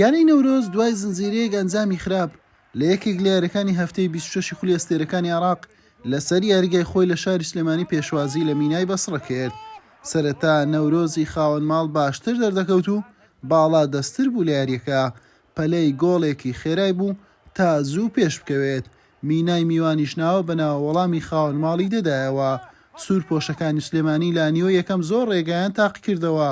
یانەی نەورۆز دوای زنجیرەیەک ئەنجامی خراپ لە یەکێک لە یاریەکانی هەفتەی بیست و شەشی خولی ئەستێرەکانی عێراق لەسەر یاریگای خۆی لە شاری سلێمانی پێشوازی لە مینای بەسڕە کرد سەرەتا نەورۆزی خاوەن ماڵ باشتر دەردەکەوت و باڵا دەستتر بوو لە یاریەکە پەلەی گۆڵێکی خێرای بوو تا زوو پێش بکەوێت مینای میوانیش ناوە بە ناوە وەڵامی خاوەن ماڵی دەدایەوە. سوور پۆشەکانی سلێمانی لانیۆ یەکەم زۆر ڕێگایان تاق کردەوە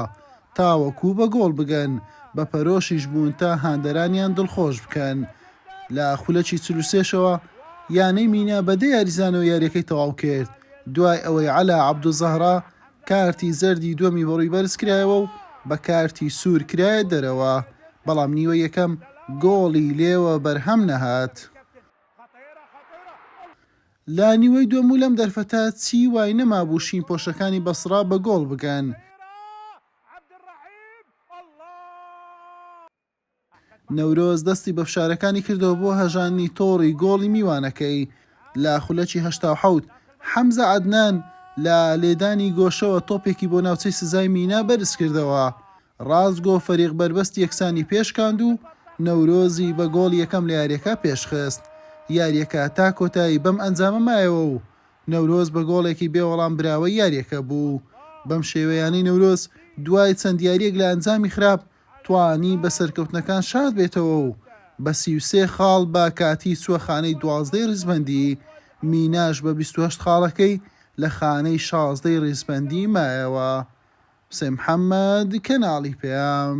تاوەکوو بە گۆڵ بگەن، بە پەرۆشیش بوون تا هاندەرانیان دڵخۆش بکەن. لە خولەکی چل و سێ شەوە یانەی مینا بە دە یاریزانەوە یاریەکەی تەواو کرد، دوای ئەوەی عەلا عەبدولزەهرا کارتی زەردی دووەمی بەڕووی بەرز کرایەوە و بە کارتی سوور کرایە دەرەوە، بەڵام نیوەی یەکەم گۆڵی لێوە بەرهەم نەهات. لە نیوەی دووەم و لەم دەرفەتە چی وای نەمابوو شینپۆشەکانی بەسڕا بە گۆڵ بگەن. نەورۆز دەستی بە فشارەکانی کردەوە بۆ هەژاندنی تۆڕی گۆڵی میوانەکەی لە خولەکی هەشتا و حەوت، حەمزە عەدنان لە لێدانی گۆشەوە تۆپێکی بۆ ناوچەی سزای مینا بەرزکردەوە، ڕاستگۆ فەریق بەربەست یەکسانی پێشکاند و نەورۆزی بە گۆڵی یەکەم لە یارییەکە پێشخست، یارییەکە تا کۆتایی بەم ئەنجامە مایەوە و نەورۆز بە گۆڵێکی بێ وەڵام براوەی یارییەکە بوو، بەم شێوەیانەی نەورۆز دوای چەند یارییەک لە ئەنجامی خراپ، توانی بە سەرکەوتنەکان شاد بێتەوە و بە سی و سێ خاڵ بە کاتی چووە خانەی دوازدەی ریزبەندی، میناش بە بیست و هەشت خاڵەکەی لە خانەی شازدەی ریزبەندی مایەوە. حوسێن محەمەد، کەناڵی پەیام.